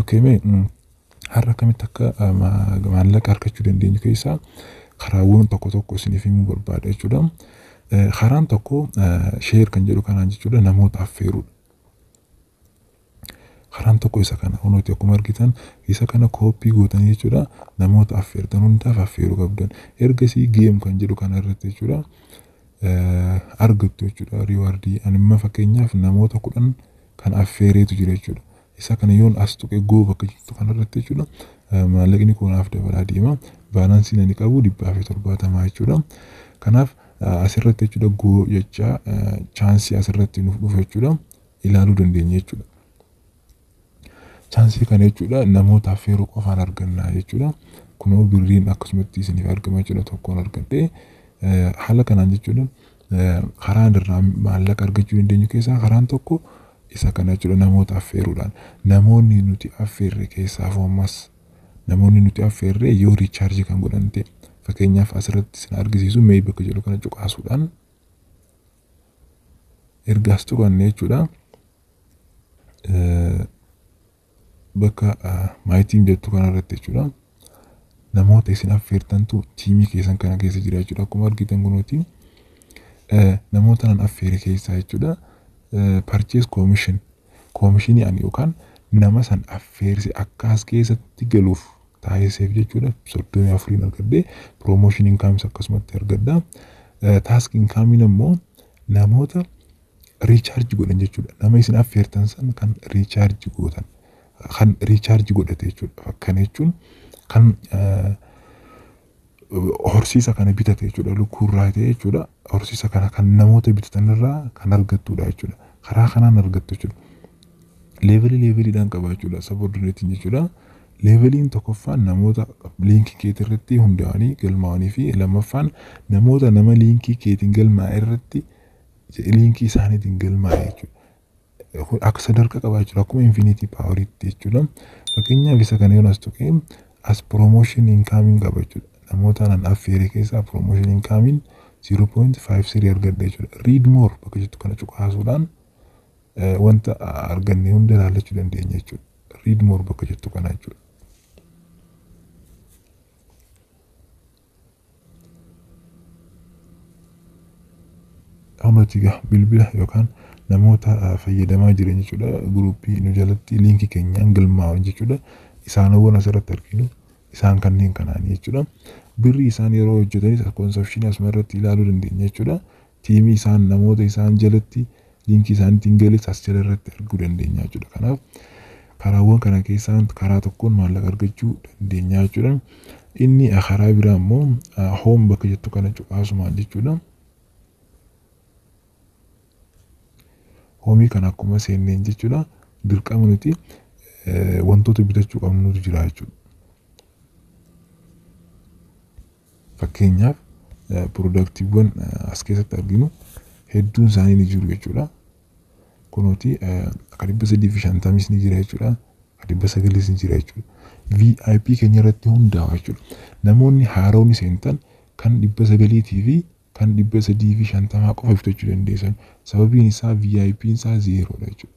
Okay, mee mm, har'a akkamitti akka ah, ma- maallaqa argachuu dandeenyu keessaa karaawwan tokko tokko isiniif himuu barbaada jechuudha. Eh, Karaan tokko sheer kan jedhu kanaan jechuudha namoota affeeruudha. Karaan tokko isa kana. Kunooti akkuma argitan isa kana kooppii gootan jechuudha. Namoota affeertan hundaaf affeeruu qabdan. Ergasii geem kan jedhu kana irratti jechuudha. Argattu jechuudha riiwaardii. Animma fakkeenyaaf namoota kudhan kan affeereetu jira jechuudha. Isa kana yoon as tuqe goo bakka jirtu kana irratti jechuudha. Maallaqni koo naaf dabalaa deema. Baalaansiin ani qabu dhibbaa fi torbaatamaa jechuudha. Kanaaf asirratti jechuudha goo jechaa chaansii asirratti nuuf dhufa jechuudha. ilaaluu dandeenya jechuudha. Chaansii kana jechuudha namoota affeeruu qofaan argannaa jechuudha. Kunoo birriin akkasumatti isiniif argama jechuudha tokkoon argadhee haala kanaan jechuudha karaa irraa maallaqa argachuu dandeenyu keessaa karaan tokko isa kana jechuudha namoota affeeruudhaan. Namoonni nuti affeerre keessaa ammas namoonni nuti affeerre yoo riichaarjii kan godhan ta'e fakkeenyaaf asirratti isin argisiisu mee bakka jedhu kana cuqaasuudhaan erga as turanne jechuudha. Bakka my team jettu kanarratti jechuudha. Namoota isin affeertantu tiimii keessan kana keessa jira jechuudha. Akkuma argitan kunuuti namoota nan affeere keessaa jechuudha. Purchase commission Koomishinii ani yookaan nama san affeerse akka as keessatti galuuf taasiseef jechuudha. 34n argadhe. Promotion incomes akkasumatti argadha. Eh, Task income'n ammoo namoota recharge godhan jechuudha. Nama isin affeertan san kan recharge gootan. Kan recharge godhate jechuudha. Kana jechuun kan eh, horsiisa kana bitate jechuudha lukkuu irraa ta'e jechuudha horsiisa kana kan namoota bitatan irraa kan argattudha jechuudha karaa kanaan argattu jechuudha leevelii leeveliidhaan qaba jechuudha sabordinatiin jechuudha leeveliin tokkoffaan namoota liinkii keetii irratti hundaa'anii galmaa'anii fi lammaffaan namoota nama liinkii keetiin galmaa'e irratti liinkii isaaniitiin galmaa'e jechuudha kun akka sadarkaa qaba jechuudha akkuma infinity power itti jechuudha fakkeenyaaf isa kana yoon as tuqee as promotion incoming qaba jechuudha namoota nan affeere keessaa promotion incoming 0.53 argadhe jechuudha read more bakka jettu kana cuqaasuudhaan eh, wanta arganne hunda ilaallachuu dandeenya jechuudha read more bakka jettu kana jechuudha Amati ga bilbila yookaan namoota fayyadamaa jiran jechuudha guruuppii nu jalatti liinkii keenyaan galmaa'an jechuudha isaanowwan asirratti arginu isaan kanneen kanaan jechuudha birrii isaan yeroo hojjetanis konsepshinii asuma irratti ilaaluu dandeenya jechuudha Teamii isaan namoota isaan jalatti linkii isaaniitiin gales as jala irratti arguu dandeenya jechuudha. Kanaaf karaawwan kana keessaa karaa tokkoon maallaqa argachuu dandeenya jechuudha. Inni karaa biraa immoo home bakka jettu kana cuqaasumaan jechuudha. Hoomii kana akkuma seenneen jechuudha dirqama nuti wantoota bitachuu qabnutu jira jechuudha. Fakkeenyaaf piroodaktiiwwan as keessatti arginu hedduun isaanii ni jiru jechuudha. Kunooti akka dhibba sadii fi shantamis ni jira jechuudha. Akka dhibba sagalis ni jira jechuudha. VIP keenya irratti hundaa'a jechuudha. Namoonni haaronni seentan kan dhibba sagaliitii fi kan 350 qofa bitachuu dandeessan sababiin isaa VIPn isaa zeeroodha jechuudha.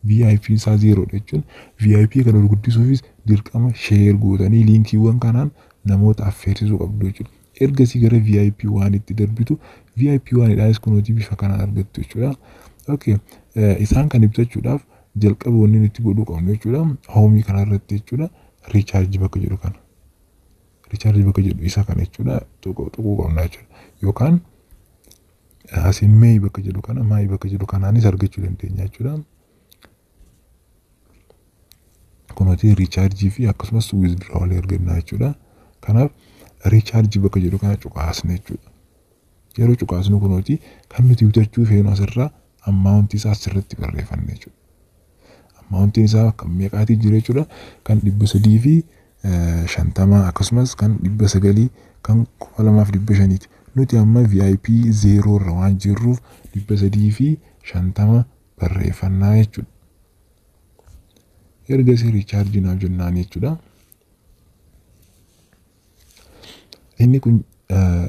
VIPn isaa zeeroodha jechuun VIP kana ol guddisuufis dirqama share gootanii liinkiiwwan kanaan namoota affeersisuu qabdu jechuudha. Ergasii gara VIP waan itti darbitu VIP waan idhaanis kunooti bifa kanaan argattu jechuudha. Okay. Isaan kan ibsachuudhaaf jalqaba wanni nuti godhuu qabnu jechuudha. Hoomii kanarratti jechuudha. Recharge bakka jedhu kana. Richaarji bakka jedhu isa kana jechuudha tuquu tuquu qabna jechuudha. Yookaan asiin meeyi bakka jedhu kana maayi bakka jedhu kanaanis argachuu dandeenya jechuudha. Kunuuti richaarjii fi akkasumas wizdiroowalii arganna jechuudha. Kanaaf richaarji bakka jedhu kana cuqaasne jechuudha. Yeroo cuqaasnu kunooti kan nuti bitachuu feenu asirraa ammaawuntii isaa asirratti barreeffanne jechuudha. Ammaawuntiin isaa kan meeqaatii jira jechuudha. Kan dhibba sadii fi shantamaa akkasumas kan dhibba sagalii kan kuma lamaaf dhibba shaniiti. Nuti amma VIP zeeroo irra waan jirruuf dhibba sadii fi shantama barreeffannaa jechuudha. Ergasii riichaarjii naaf jennaan jechuudha. Inni kun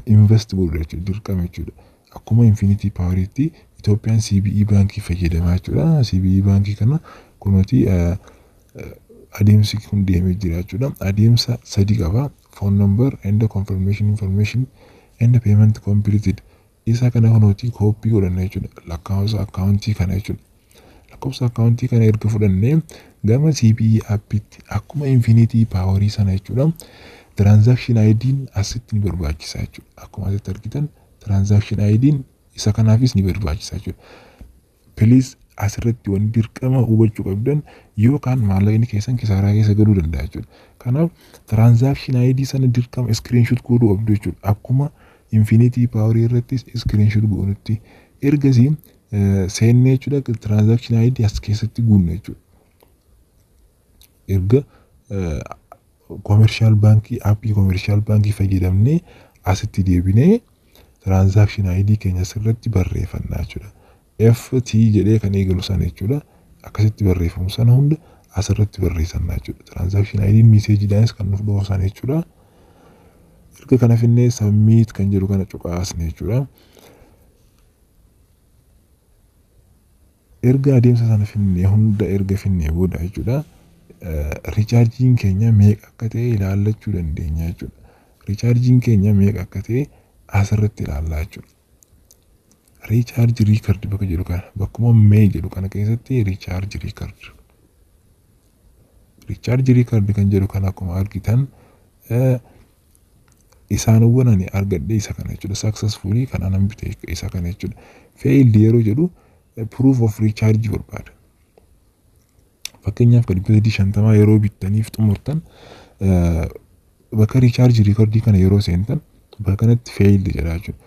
invest godhudha jechuudha dirqama jechuudha. Akkuma infinitii paawariitti Itoophiyaan CBE baankii fayyadamaa jechuudha. CBE baankii kana kunuuti adeemsi kun deemee jira jechuudha. Adeemsa sadi qaba. Phone number and confirmation information and payment completed. Isa kana kan nuti kooppii godhanna jechuudha. Lakkaa'umsa akkaawuntii kana jechuudha. Lakkoofsa akkaawuntii kana erga fudhannee gama CBE appitti akkuma infinitii paawarii sana jechuudha. Transaction ID'n asitti ni barbaachisa jechuudha. Akkuma asitti argitan transaction ID'n isa kanaafis ni barbaachisa jechuudha. Please asirratti wanni dirqama hubachuu qabdan yoo kaan maallaqni keessan kisaaraa keessa galuu danda'a jechuudha. Kanaaf transaction ID sana dirqama screenshot godhuu qabdu jechuudha. Akkuma infinity power irrattis screenshot goonutti. Ergasii seennee jechuudha transaction ID as keessatti guunna jechuudha. erga komershaal baankii aappii komershaal baankii fayyadamnee asitti deebinee tiraansaakshin ayidii keenya asirratti barreeffanna jechuudha. FT jedhee kan eegalu sana jechuudha. Akkasitti barreeffamu sana hunda asirratti barreessanna jechuudha. Tiraansaakshin ayidiin miiseejiidhaanis kan nuuf dhufu sana jechuudha. Erga kana finnee sabmiit kan jedhu kana cuqaasne jechuudha. Erga adeemsa sana fidnee hunda erga fidnee booda jechuudha richaarjiin keenya meeqa akka ta'e ilaallachuu dandeenya jechuudha. Richaarjiin keenya meeqa akka ta'e asirratti ilaallaa jechuudha. Richaarji riikard bakka jedhu kana bakkuma mee jedhu kana keessatti richaarji riikard. Richaarji riikard kan jedhu kana akkuma argitan isaanowwan ani argadhe isa kana jechuudha successfully kan anan bite isa kana jechuudha failed yeroo jedhu eh, proof of recharge barbaada fakkeenyaaf kan dhibba sadii shantamaa yeroo bittaniif xumurtan eh, bakka recharge record kana yeroo seentan bakka kanatti failed jedha jechuudha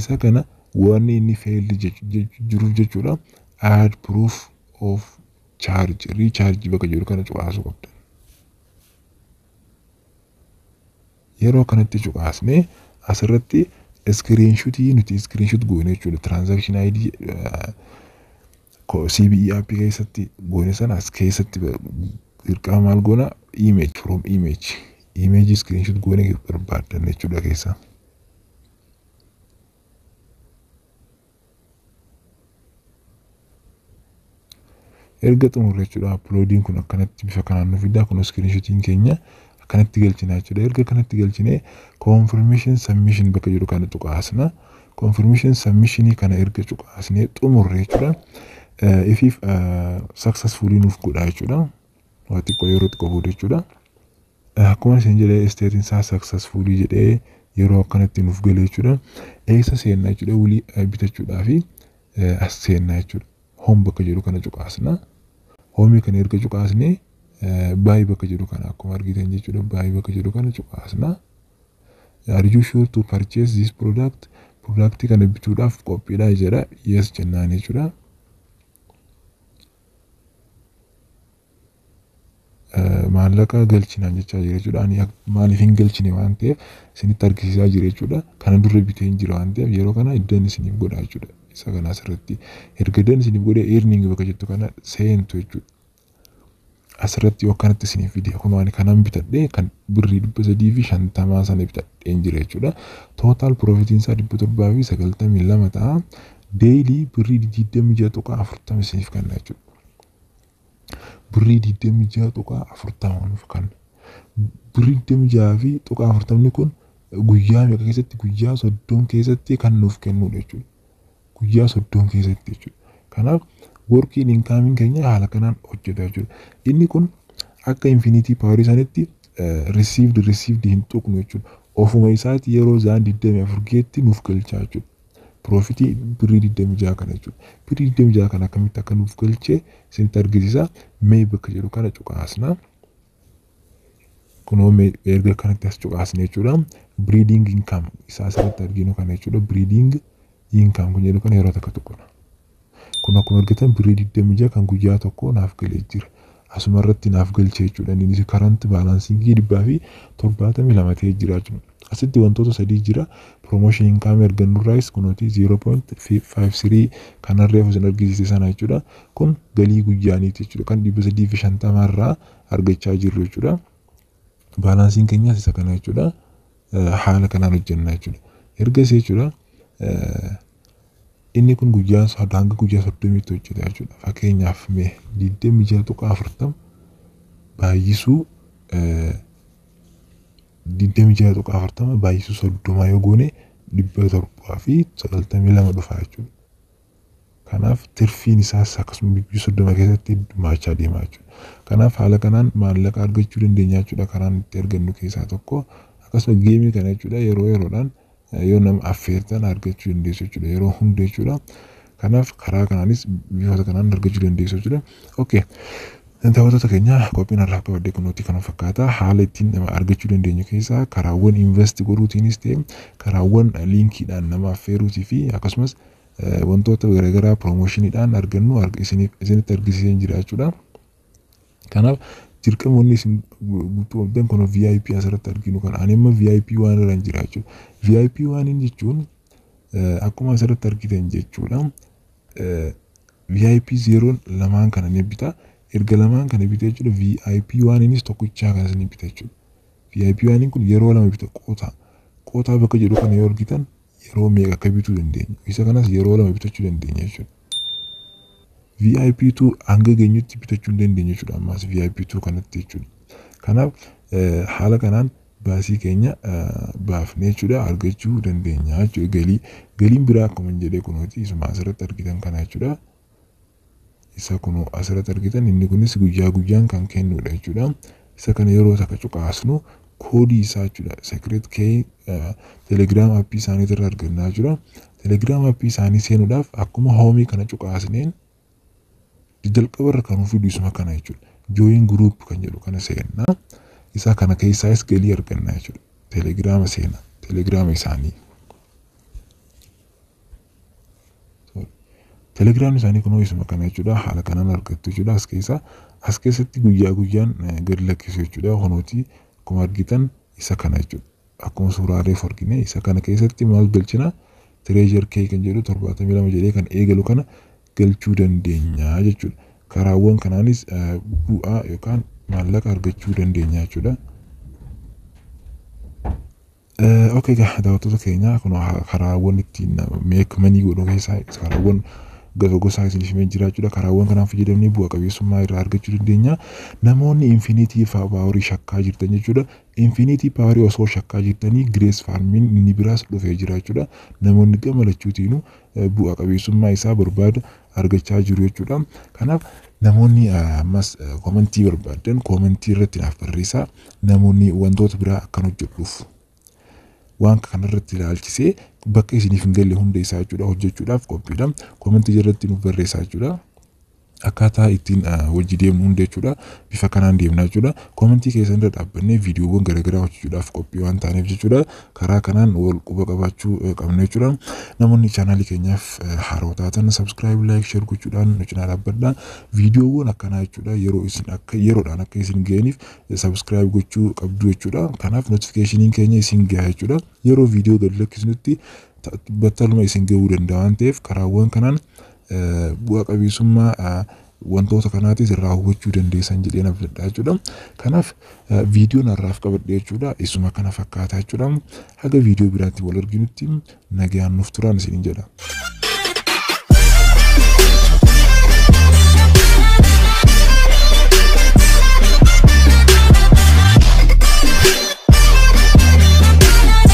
isa kana waan inni failed jechu- jechu- jiruuf jechuudha add proof of charge recharge bakka jedhu kana cuqaasuu qabdan Yeroo kanatti cuqaasnee asirratti iskiriinshutii nuti iskiriinshut goone jechuudha. Tiraansaakshinii ID CBE app keessatti goone sana as keessatti dirqama maal goona image from image image iskiriinshut goone barbaaddan jechuudha keessaa. erga xumurre jechuudha uploadiin kun akkanatti bifa kanaan nu fidaa kun screenshotiin keenya akkanatti galchina jechuudha erga akkanatti galchine confirmation submission bakka jedhu kana cuqaasna confirmation submission kana erga cuqaasne xumurre jechuudha ifiif successfully nuuf godha jechuudha waa xiqqoo yeroo xiqqoo booda jechuudha Akkuma isin jedhe isteetiin isaa saksasfuulii jedhee yeroo akkanatti nuuf galee jechuudha. Eessa seennaa jechuudha wulii bitachuudhaa fi as seennaa jechuudha. Hoom bakka jedhu kana cuqaasna. Hoomii kana erga cuqaasnee baay'ee bakka jedhu kana akkuma argitan jechuudha baay'ee bakka jedhu kana cuqaasna. Are you sure to purchase this product? Product kana bituudhaaf qophiidhaa jedha. Yes jennaan jechuudha. maallaqa galchi naan jechaa jira jechuudha. Ani maaliif hin galchine waan ta'eef isinitti argisiisaa jira jechuudha. Kana dura bitee hin jira waan ta'eef yeroo kana iddan isiniif godha jechuudha. Isa kana asirratti erga iddan isiniif godhe earning bakka jettu kana seentu jechuudha. Asirratti yoo kanatti isiniif fide kunoo ani kanan bitadhe kan birrii dhibba sadii fi shantamaa sana bitadhe hin jira jechuudha. Tootaal piroofitiin isaa dhibba torbaa fi sagaltamii lama ta'a. Deeyilii birrii digdamii ja'a tuqaa afurtama isiniif kenna jechuudha. birrii digdamii ja'a tuqaa afurtama nuuf kanna. Birrii digdamii ja'a fi tuqaa afurtamni kun guyyaa meeqa keessatti guyyaa soddom keessatti kan nuuf kennudha jechuudha. Guyyaa soddom keessatti jechuudha. Kanaaf workiin inkaamiin keenya haala kanaan hojjeta jechuudha. Inni kun akka infinitii paawarii sanitti risiivdi risiivdi hin tuqnu jechuudha. Ofuma isaati yeroo zaan digdamii afur geetti nuuf galchaa jechuudha. Piroofitii birrii 26 kana jechuudha. Birrii 26 kana akkamitti akka nuuf galchee isinitti argisiisa. Mee bakka jedhu kana cuqaasna. Kunoo mee erga kanatti as cuqaasne jechuudha. Breeding income isaa asirratti arginu kana jechuudha. Breeding income kun jedhu kana yeroo takka tuqna. Kun akkuma argitan birrii 26 kan guyyaa tokkoo naaf galee jira. Asuma irratti naaf galche jechuudha. Innis karanti baalaansiingii 272 ta'ee jira jechuudha. Asitti wantoota sadii jira. Promotion income argannu irraayis kunuuti 0.53 kan harree ofisin argisiise sana jechuudha. Kun galii guyyaaniiti jechuudha. Kan 350 irraa argachaa jirru jechuudha. Baalaansiin keenyas isa kana jechuudha. Haala kanaan hojjenna jechuudha. Ergas jechuudha. Inni kun guyyaan isaa hanga guyyaa soddomiitti hojjeta jechuudha. Fakkeenyaaf mee digdamii ja'a tuqaa afurtama baay'isuu digdamii ja'a tuqaa afurtama baay'isuu soddomaa yoo goone dhibba torbaa fi sagaltamii lama dhufa jechuudha. Kanaaf tirfiin isaas akkasuma guyyaa soddoma keessatti heddumaachaa deema jechuudha. Kanaaf haala kanaan maallaqa argachuu dandeenya jechuudha karaan itti argannu keessaa tokko. Akkasuma geemii kana jechuudha yeroo yeroodhaan yoo nama affeertan argachuu dandeessu jechuudha yeroo hunda jechuudha kanaaf karaa kanaanis bifoota kanaan argachuu dandeessu jechuudha okay daawwattoota keenya qophiin har'aaf qabadde kunuutti kana fakkaata haala ittiin nama argachuu dandeenyu keessaa karaawwan invest godhuutiinis ta'e karaawwan liinkiidhaan nama affeeruutii fi akkasumas eh, wantoota garaagaraa piroomoshiniidhaan argannu arg- isiniif- isinitti argisiiseen jira jechuudha. Kanaaf dirqama wanni isin guutuu qabdan kun VIP asirratti arginu kana. Ani amma VIP waan irra hin jira jechuudha. VIP waan hin jechuun eh, akkuma asirratti argitan jechuudha. Eh, VIP zeeroon lamaan kana ni bita. Erga lamaan kana bita jechuudha VIP waan innis tokkichaa kanas ni bita jechuudha. VIP waan kun yeroo lama bita qoota. Qoota bakka jedhu kana yoo argitan yeroo meeqa akka bituu dandeenyu isa kanas yeroo lama bitachuu dandeenya jechuudha. VIP2 hanga geenyutti bitachuu dandeenya jechuudha ammaas VIP2 kanatti jechuudha. Kanaaf haala kanaan baasii keenya baafnee jechuudha argachuu dandeenya jechuudha galii galiin biraa akkuma jedhee kunooti isuma asirratti argitan kana jechuudha. Isa kunoo asirratti argitan inni kunis guyyaa guyyaan kan kennuudha jechuudha. Isa kana yeroo takka cuqaasnu koodii isaa jechuudha. Secret key telegram appii isaanii irra argannaa jira. Telegram appii isaanii seenuudhaaf akkuma hoomii kana cuqaasneen jalqaba irra kan fidu isuma kana jechuudha. Join group kan jedhu kana seennaa. Isaa kana keessaas galii argannaa jechuudha. Telegrama seena. Telegrama isaanii. Telegiraamni isaanii kunoo isuma kana jechuudha. Haala kanaan argattu jechuudha as keessaa. As keessatti guyyaa guyyaan gad lakkisu jechuudha. Kunooti akkuma argitan isa kana jechuudha. Akkuma suuraa reef argine isa kana keessatti maal galchina tireezhar kee kan jedhu torbaatamii lama jedhee kan eegalu kana galchuu dandeenya jechuudha. Karaawwan kanaanis bu'aa yookaan maallaqa argachuu dandeenya jechuudha. Ok egaa daawwattoota keenya kun karaawwan ittiin meek manii godhu keessaa karaawwan gosa gosaa isiniif himee jira jechuudha. Karaawwan kanaan fayyadamnee bu'a qabeessummaa irraa argachuu dandeenya. Namoonni infiiniitii paawarii shakkaa jirtan jechuudha. Infiiniitii paawarii osoo shakkaa jirtanii girees faarmiin inni biraas dhufee jira jechuudha. Namoonni gama lachuutiinuu bu'a qabeessummaa isaa barbaada argachaa jiru jechuudha. Kanaaf namoonni ammas koomentii barbaaddan koomentii irratti naaf barreessaa namoonni wantoota biraa akkan hojjedhuuf waan kanarratti ilaalchisee bakka isiniif hin galle hunda isaa jechuudha hojjechuudhaaf qophiidha. Koomentii jalatti nuuf barreessaa jechuudha. Akkaataa ittiin wajji deemnu hunda jechuudha. Bifa kanaan deemna jechuudha. Koomentii keessan irra dhaabbannee viidiyoowwan garaagaraa hojjechuudhaaf qophii waan taaneef jechuudha. karaa kanaan wal quba qabaachuu qabna jechuudha. Namoonni chaanaalii keenyaaf haaroo taatan subscribe, like, share gochuudhaan nu cinaa dhaabbadha. Viidiyoowwan akkanaa jechuudha yeroo isin akka yeroodhaan akka isin ga'aniif subscribe gochuu qabdu jechuudha. Kanaaf notification keenya isin gaha jechuudha. Yeroo viidiyoo gad lakkisnutti battaluma isin ga'uu danda'a waan ta'eef karaawwan kanaan bu'a qabeessummaa wantoota kanaatis irraa hubachuu dandeessan jedheen abdadha jechuudha. Kanaaf viidiyoon har'aaf qabadhe jechuudha. Isuma kana fakkaata jechuudha. Haga viidiyoo biraatti wal arginutti nagaan nuuf turaan isiniin jedha.